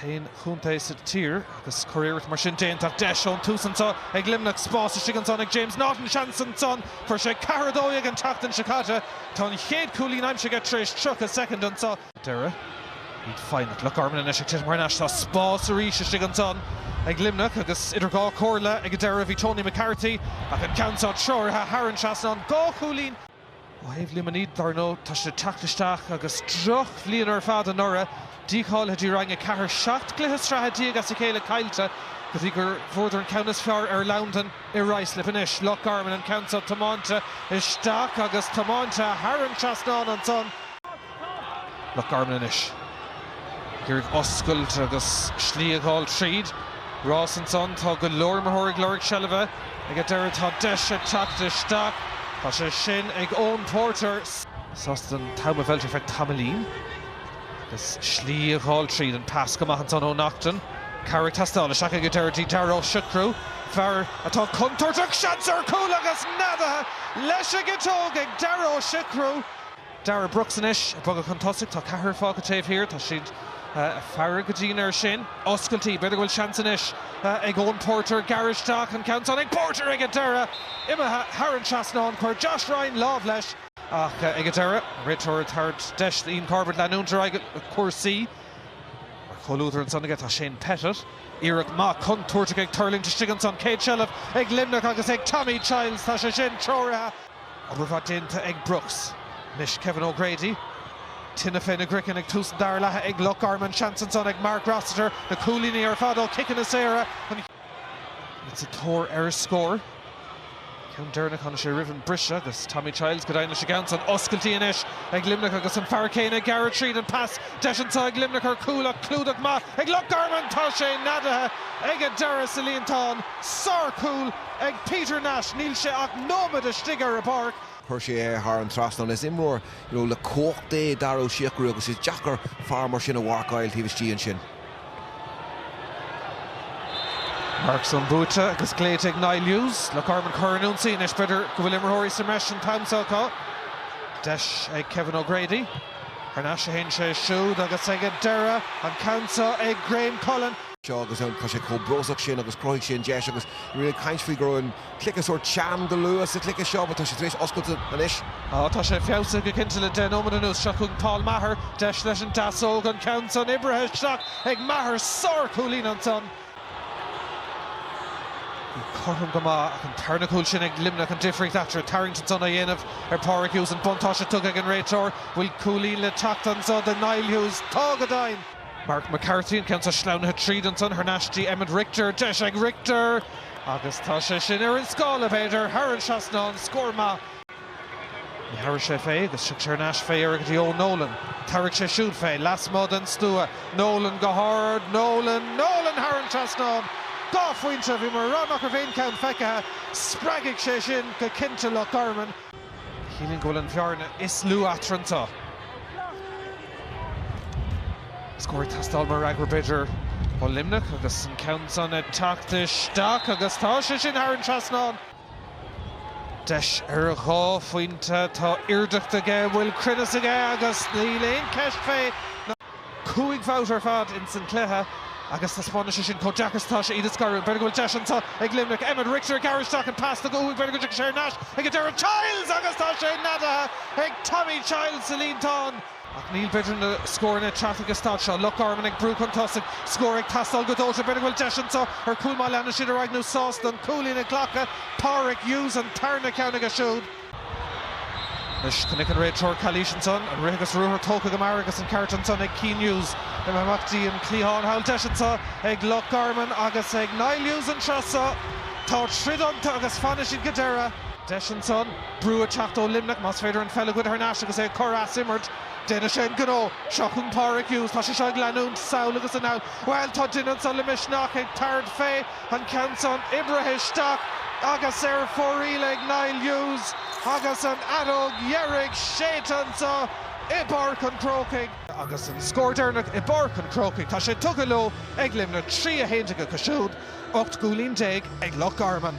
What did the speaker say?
t-aon chontae sa tír agus curiarracht mar sin déanta ach deis ón tús anseo ag Luimneach. Spás istigh ansan ag James Naughton, seans ansan. Fuair sé ceathair a dó dhéag an tseachtain seo caite. Tá an chéad chúilín aimsithe tar éis 30 soicind anseo. deireadh. Iad foighneach. Loch Garman anois ag titim thar n-ais. Tá spás arís istigh ansan ag Luimneach agus idir dhá chomhairle ag an deireadh bhí Tony McCarthy ach an ceann seo treoraithe thar an trasnán. Dhá chúilín. Ó thaobh Luimnigh, dar ndóigh, tá siad ag teacht isteach agus drochbhliain ar fad anuraidh. Dícháilithe dtí Roinn 4, 17 cluiche sraithe as a chéile caillte go dtí gur bhuadar an ceann is fearr ar Londain i Ruislip anois. Loch Garman an ceann seo tiomáinte isteach agus tiomáinte thar an trasnán ansan. Loch Garman anois. Ag iarraidh oscailt agus slí a fháil tríd. Ross ansan. Tá go leor imreoirí ag lorg seilbhe. Ag an deireadh tá deis ag teacht isteach. Tá sé sin ag Eoin Porter. Sásta an t-am a mheilt ar feadh tamaillín. Agus slí a fháil tríd. An pas go maith ansan ó Naughton. Cabhair ag teastáil. Isteach ag an deireadh dtí Darragh Ó Siochrú. Fear atá contúirteach. Seans ar chúl agus neadaithe leis an gciotóg ag Darragh Ó Siochrú. Darragh Brooks anois ag bogadh chun tosaigh. Tá ceathrar fágtha taobh thiar. Tá siad ag faire go dian air sin. Oscailtí. B'fhéidir go bhfuil seans anois ag Eoin Porter gearradh isteach. An ceann san ag Porter ag an deireadh! Imithe thar an trasnán. Chuir Josh Ryan lámh leis. Ach ag an deireadh, réiteoir tabhairt deis d'Ian Corbett leanúint ar aghaidh le cúrsaí. Mar chomhluadar ansan aige tá Shane Pettitt. Iarracht mhaith chontúirteach ag tuirlingt istigh ansan. Céad seilbh ag Luimneach agus ag Tommy Childs. Tá sé sin treoraithe. Obair mhaith déanta ag Brooks. Anois Kevin O'Grady. Tine féna gcraiceann ag tús an dara leatha ag Loch Garman. Seans ansan ag Mark Rossiter. Na cúilíní ar fad ó chiceanna saora. Iad sa tóir ar a scór. Ceann deireanach tháinig sé roimh an briseadh agus Tommy Childs ag déileáil leis an gceann san. Oscailtí anois ag Luimneach agus an fear céanna ag gearradh tríd. An pas deis anso ag Luimneach ar chúl ach clúdach maith ag Loch Garman. Tá sé neadaithe ag a deireadh sa líontán. Sárchúl. Ag Peter Nash, níl sé ach nóiméad istigh ar an bpáirc. Chuir sé é thar an trasnán. Is imreoir you know le cumhacht é Dara Ó Siochrú agus is deacair fear mar sin a mharcáil taobh istigh ansin. Marc san buaite agus glaoite ag Niall Hughes Loch Garman chun ionsaí anois. B'fhéidir go bhfuil imreoirí sa mbreis an t-am seo acu. Deis ag Kevin O'Grady. Thar n-ais a théann sé siúd agus ag an deireadh an ceann seo ag Graham Cullen. seo agus ann. Tá sé chomh brostach sin agus chruthaigh sé an deis agus ní raibh mé ag caint faoi go raibh an cluiche sórt teann go luath sa chluiche seo but tá sé tar éis oscailt anois. Ó tá sé feabhsaithe go cinnte le deich nóiméad anuas seo chugainn Paul Maher. Deis leis an deasóg an ceann san oibrithe isteach ag Maher. Sárchúilín ansan. Bhí cothrom go maith ach an tarna cúl sin ag Luimneach an difríocht eatarthu ag tarraingt ansan á dhéanamh ar Páraic Hughes. An buntáiste tugtha ag an réiteoir. Bhfuil cúilín le teacht anso do Niall Hughes. Tá go deimhin. Mark McCarthy, an ceann seo sleamhnaithe tríd ansan thar n-ais dtí Emmet Richter. Deis ag Richter agus tá sé sin ar an scáile, b'fhéidir, thar an trasnán. Scór maith. Ní thabharfaidh sé fé agus tiocfaidh sé thar n-ais fé dheireadh go dtí Eoin Nolan. Tabharfaidh sé siúd fé, lasmuigh den stua. Nolan go hard. Nolan. Nolan thar an trasnán. Dhá phointe. Bhí mé ag rá nach raibh aon cheann feicthe. Spreagfaidh sé sin go cinnte Loch Garman. Sílim go bhfuil an bhearna is lú eatarthu anseo. Scór ag teastáil mar fhreagra b'fhéidir ó Luimneach agus sin ceann san ag teacht isteach agus tá sé sin thar an trasnán. Deis ar dhá phointe, tá airdeacht aige, bhfuil cruinneas aige agus níl aon cheist fé. Cúig bhabhta ar fad ins an cluiche agus taispeánann sé sin chomh deacair is atá sé iad a scaradh. B'fhéidir go bhfuil deis anseo ag Luimneach. Emmet Rigter ag gearradh isteach an pas tugtha uaidh. B'fhéidir go dtiocfaidh sé thar n-ais ag an deireadh. Childs agus tá sé neadaithe ag Tommy Childs sa líontán. Ach níl b'fhéidir na scóranna ag teacht ag an staid seo. Loch Garman ag brú chun tosaigh. Scór ag teastáil go dóite. B'fhéidir go bhfuil deis anseo ar chúl má leanann siad ar aghaidh nó sásta an cúilín a ghlacadh. Pádraic Hughes an tarna ceann aige siúd. Anois chonaic an réiteoir calaois ansan, an rith agus ruathar tógtha go mear agus an ceart ansan ag Cian Hughes imeacht amach dtí an cliathán thall. Deis anseo ag Loch Garman agus ag Niall Hughes an tráth seo. Tá troid iontu agus fanfaidh siad go deireadh. Deis ansan brú ag teacht ó Luimneach, más féidir an pheil a ghoid thar n-ais agus é ag cur as imirt. Déanfaidh sé an gnó. Seo chugainn Pádraig Hughes. Tá sé seo ag leanúint sall agus anall. Bhuel, tá duine ansan le misneach ag tarraingt fé. an ceann san oibrithe isteach agus ar fóraoil ag Niall Hughes agus an fheadóg dheiridh séidte anseo i bPáirc an Chrócaigh. Agus an scór deireanach i bPáirc an Chrócaigh, tá sé tugtha leo ag Luimneach, 3 11 acu siúd, 18 gcúilín ag Loch Garman.